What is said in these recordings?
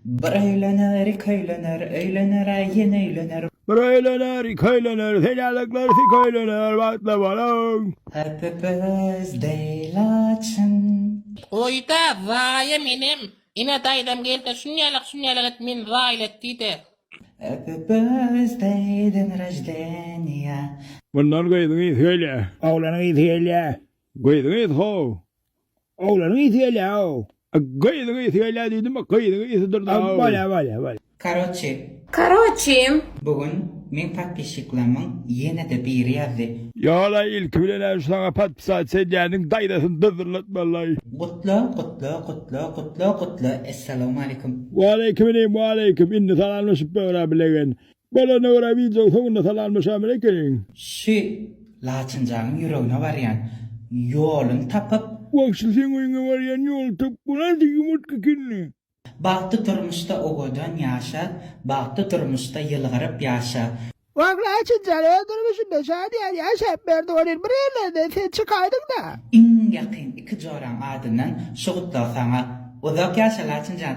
Bir öýlener, iki öýlener, öýlener-ä, ýene öýlener. Bir öýlener, iki öýlener, senälikler sik öýlener, bagtly boluň! Happy birthday laçyn. Goýda zaýam enem ine daýzam gelse şunýalak şunýalak et meni zaýyl et diýde. Happy birthday den roždeniýa. Bundan gyzyň ysy gelýä. Oglanyň ysy gelýä. Gyzyň ysy how. Oglanyn ysy gelýä ow. Gyzyň ysy gelýä diýdim a gyzyň ysy durda ow. Bolýa bolýa bolýa. Karoçe. Karoçem. Bu gün meň podpisçiklamyň ýenede biri ýazdy. Ýola ilki bilen hem şoňa podpisat senýäniň daýzasyny dyzdylatmalaý. Gutla gutla gutla gutla gutla essalamu aleýkum. Waleýkiminim waleýkim indi salamlaşyp böwra bilegen. Bolanyna görä wideoň soňunda salamlaşamyz ekeniň. Şu laçynjanyň ýüregine barýan ýolun tapyp. Wagşy seň öýüňe barýan ýoly tapyp bu nasy ýumurtga ekeni. Bagtly durmuşda owadan ýaşa, bagtly durmuşda ýylgyryp ýaşa. Wah Laçynjan öz durmuşynda şadyýan ýaşap berdi welin bir ýerlerden ses çykaýdyňda. Iň ýakyn iki joraň adyndan şu gutlag saňa. Uzak ýaşa Laçynjan.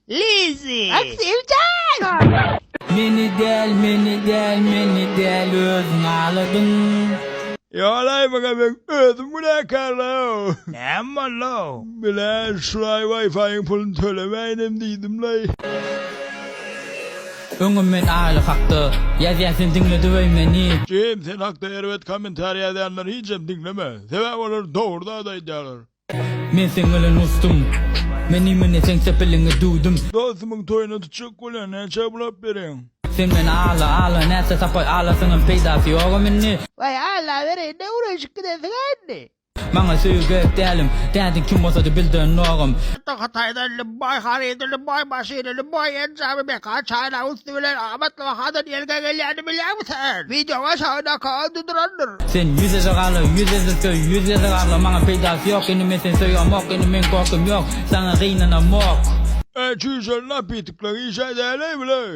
Lizzy! Ak Sevjan! Meni däl meni däl meni däl özüň aladyň. Ýalaý maňa men özüm günäkarlaw. Näme boldaw? Bilen şulaý waýfaýyň puluny tölemäýinem diýdimlaý. Öňem men Aýly hakda ýazýan sen diňle döweý meni. Jim sen hakda erbet kommentariý ýazýanlary hiçem diňleme. Sebäbi olar dogry zady aýdýarlar. Men seň bilen uçdum. Men imine seň sepiliňi düwdüm. Dostumyň toýuna tutjak bolýan näçä bulap bereýin. Sen men ala ala näçe tapay alasyňam peýdasy ýogam indi. Waý ala bereýin ne ureşip gidensiňa indi. Maňa söýgi gerek dälim. Dädiň kim bolsady bilden nogam. Hatda Hytaýdan Lybbaý harydy Lybbaý maşyny Lybbaý enjamy meka çaýlawy. Gitdi bilen amatly bahadan elge gelýäni bilýäňmi sen? Wideoň aşagyndaky ady durandyr. Sen ýüz eze gala ýüz ezil söý ýüz eze gala maňa peýdasy ýok indi men seni söýemok indi meň gorkym ýok saňa gynanamok. Eý çüýşeli napitikleň işä däleý bileý.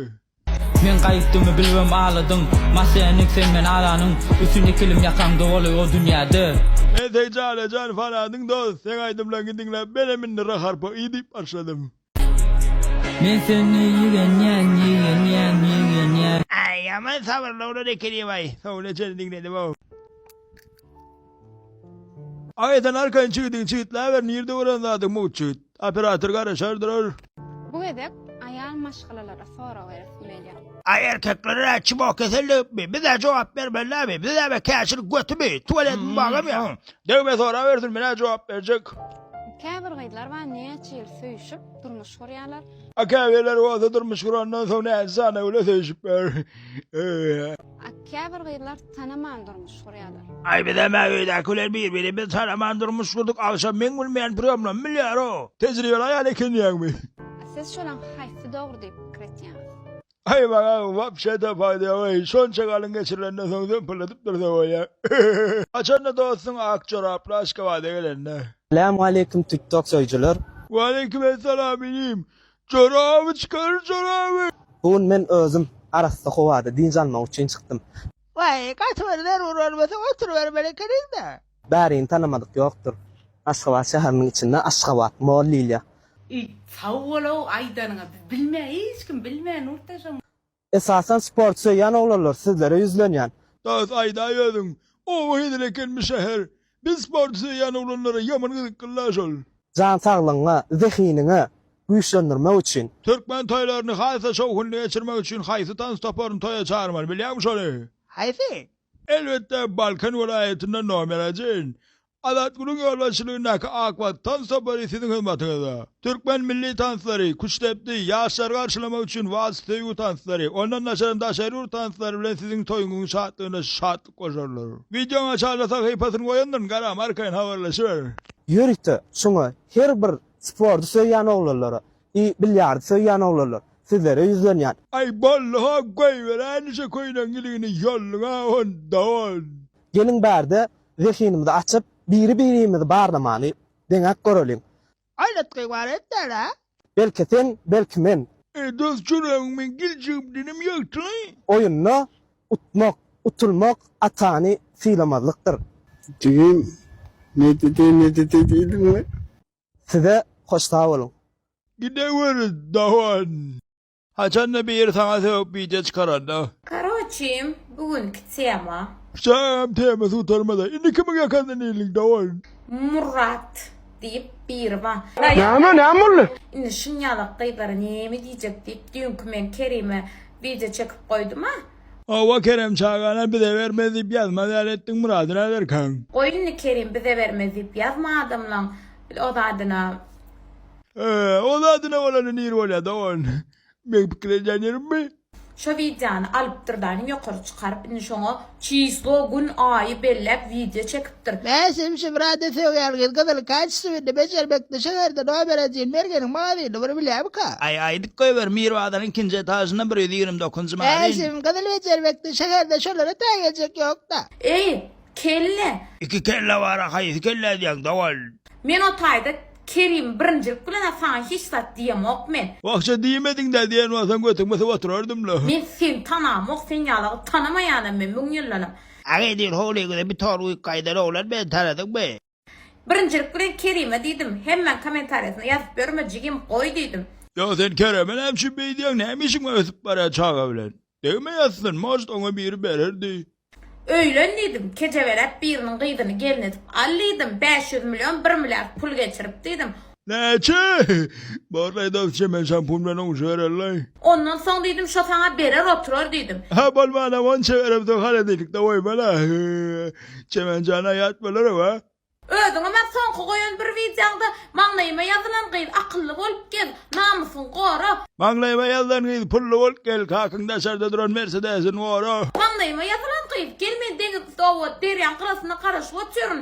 Men gaýypdymy bilibem aladyň Masennik sen men alanyň Üstün ikilim ýakaňda boluy o dünýäde. Men seň jana jan fanadyň dos seň aýdymlaryňy diňläp menem indi raharpa iýdip başladym. Men seni ýigrenýän ýigrenýän ýigrenýän. Aý ýaman sabyrly oglan ekeni waý sowly söz diňledi bu. Aý sen arkan çigidin çigitläber nirde bolan zadyň mugt çigit operator garaşar durar. Bu gezek aýal maşgalalara sorag beresim gelýär. Aý erkeklere dä çmo kesel degipmi bizä jogap bermelilämi bizäme käşir götümi tuwaletmi bagam ýa. Degme sorabersin menä jogap berjek. Käbir gyzlar bar näçe ýyl söýüşip durmuş gurýarlar. A käbirleri bolsa durmuş gurandan soň näçe sany öwle söýüşipler. A käbir gyzlar tanaman durmuş gurýarlar. Aý bizem a öýdäki bilen bir birimizi tanaman durmuş gurduk agşam meň bilmeýän prýomlamy bilýär o. Tejribeli aýal eken diýýäňmi. A siz şolaň haýsy dogry diýip pikir etýäňiz. Aýman aga wapşede faýda ýok eý, şonça galyň geçirilenden soň zöňpüldedip dursa bolýa. Haçanda dostuň ak joraply Aşgabada gelende. Salam aleýkum tik tok söýjüler. Waleýkim essalam inim. Joraby çykaryr joraby. Bu gün men özüm arassa howada dynç almak üçin çykdym. Waý gaty bir zerur bolmasa oturybermeli ekeniňda. Bärini tanamadyk ýokdur. Aşgabat şäheriniň içinde Aşgabat mall diýilýär. Eý sag bolow aýdanyňa biz bilmä hiç kim bilmä Nurtaşam. Esasan sport söýýän oglanlar sizlere ýüzlenýän. Dost aýdaý özüň oba hezil eken bu şäher biz sporty söýýän oglanlara ýaman gyzyklyla şol. Jan saglygyňa, zehiniňe güýçlendirmek üçin. Türkmen toýlaryny has-da şowhunly geçirmek üçin haýsy tans toparyny toýa çagyrmaly, bilýäňmi şony? Haýsy? Elbetde, Balkan welaýatynda nomer ajin. Azatgulyň ýolbaşçylygyndaky Ak wagt tans topary siziň hyzmatyňyzda. Türkmen milli tanslary, küştdepdi, ýaşlary garşylamak üçin wals, söýgi tanslary, ondan daşarym daşary ýurt tanslary bilen siziň toýuňyň şatlygyna şatlyk goşarlar. Wideoň aşagda sahypasyny goýandyryn, gara, arkaýyn habarlaşyber. Ýörite şuňa her bir spordy söýýän oglanlara I bilýardi söýýän oglanlar. Sizlere ýüzlenýän. Aý boldy hok goýberäýnişe köýnegiň iligini ýolluňa onda on. Geliň bärde zehinimizi açyp biri birimizi barlamany deňäp göreliň. Aýlatgy bar etdäl a. Belki sen belki men. Eý dos çüregimiň giljigim dinim ýagtyly. Oýunda utmak, utulmak atany sylamazlykdyr. Jigim, nedede nedede diýdiňmi? Size hoş sag boluň. Gideweriz dogan. Haçanda biri saňa sögüp wideo çykaranda. Karoçi bu günki tema. Şagam temasy gutarmada indi kimiň ýakasyndan ildik dogan. Murrat diýip biri bar. Näme näme boldy. Indi şunyalak gyzlara näme diýjek diýip düýnki men Kerime wideo çekip goýduma. Hawa Kerem çagana bize bermez diýip ýazmaz ýaly etdiň Murady nazarkaň. Goý indi Kerim bize bermez diýip ýazma adamlaň o zadyna. Öö o zadyna bolanda nir bolýa dogan. Meň pikir edýän ýerimmi? Şo wideony alyp dyrdaýyň ýokary çykaryp indi şoňa çislo gün aýy belläp wideo çekip Dr. Mäsim Şibrady söýýärgiz gyzyl kaç suwini bejermekde şäherde nomer edin mergeniň magazyny bir bilýämika. Aý aýdyp goýber Mir bazaryn ikinji etažynda bir ýüz ýigrimi dokuzynjy magazin. Mäsim gyzyl bejermekde şäherde şolara tä geljek ýokda. Eý, kelle! Iki kelle bara haýsy kelle edýäň dowal. Men o taýda Kerim birinjilik bilen-ä saňa hiç zat diýemok men. Wahşa diýmediňdä diýen bolsaň götüňi syp oturardym-la. Men seni tanamok sen ýalagy tanamaýanam men müň ýyldanam. Aga edil howlyňyza bir tor güýk gaýdan oglan bilen tanadyňmy? Birinjilik bilen Kerime diýdim. Hemmäň komentariýasyna ýazyp ýörme jigim, goý diýdim. Ýa sen Kereme näme üçin beýdýäň näme işiň bar ösüp barýan çaga bilen. Degme ýatsyn может oňa biri bererdi. Öýlen diýdim, kejebelep biriniň gyzyny gelin edip al diýdim, bäş ýüz million bir milliard pul geçirip diýdim. Näçe? Borlaý dostja men şampun bilen oňşa berelläý. Ondan soň diýdim şo saňa berer oturar diýdim. Hä bolmanam onça beremsoň hany diýdik dawaý bala. Çemen jana ýat bolarem a. Özüňem a soňky goýan bir wideoňda maňlaýyma ýazylan gyz akylly bolup gez, namysyňy gora. Maňlaýyma ýazylan gyz pully bolup gel, kakyň daşarda duran mersedesin gora. Maňlaýyma ýazylan gyz gel men deňiz üsti owad derýaň gyrasyna garaşyp otyryn.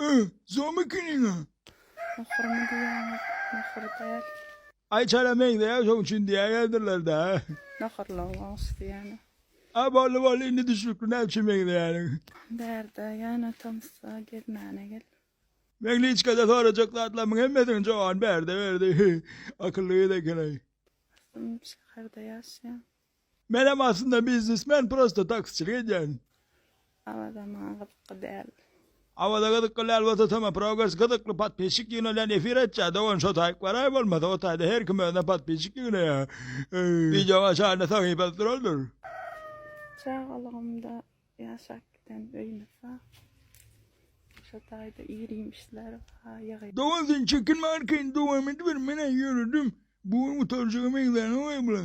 Ä, zom ekeniňä. Muhurmy diýýäňiz, muhur däl. Aý çala meňzeýär şoň üçin diýäýerdirler-dä. Nohurlygy goňşusy ýaly. A boldy boldy indi düşnükli näme üçin meňzeýäniň. Bärde ýana tomsa gezmäne gel. Meňliçkada sorajak zatlarymyň hemmesiniň jogany bärde berdi. Akylly gyz eken-aý. Dostum şäherde ýaşaýan. Menem aslynda biznesmen prosta taksiçilik edýän. Awaza maňa gyzykly däl. Awaza gyzykly däl bolsa toma progres gyzykly podpisçik ýygnalýan efir açja dogan şo taýyk baraý bolmasa o taýda her kim özüne podpisçik ýygnaýa wideoň aşagynda sahypasy duraldyr. Çagalygymda ýaşap giden öýümiz bar. Şo taýda ir iýmişler bar ýygy. Dogan sen çekinme arkaýyn dowam ediber men-ä ýöredim bu gün gutarjaga meňzänok-aý bula.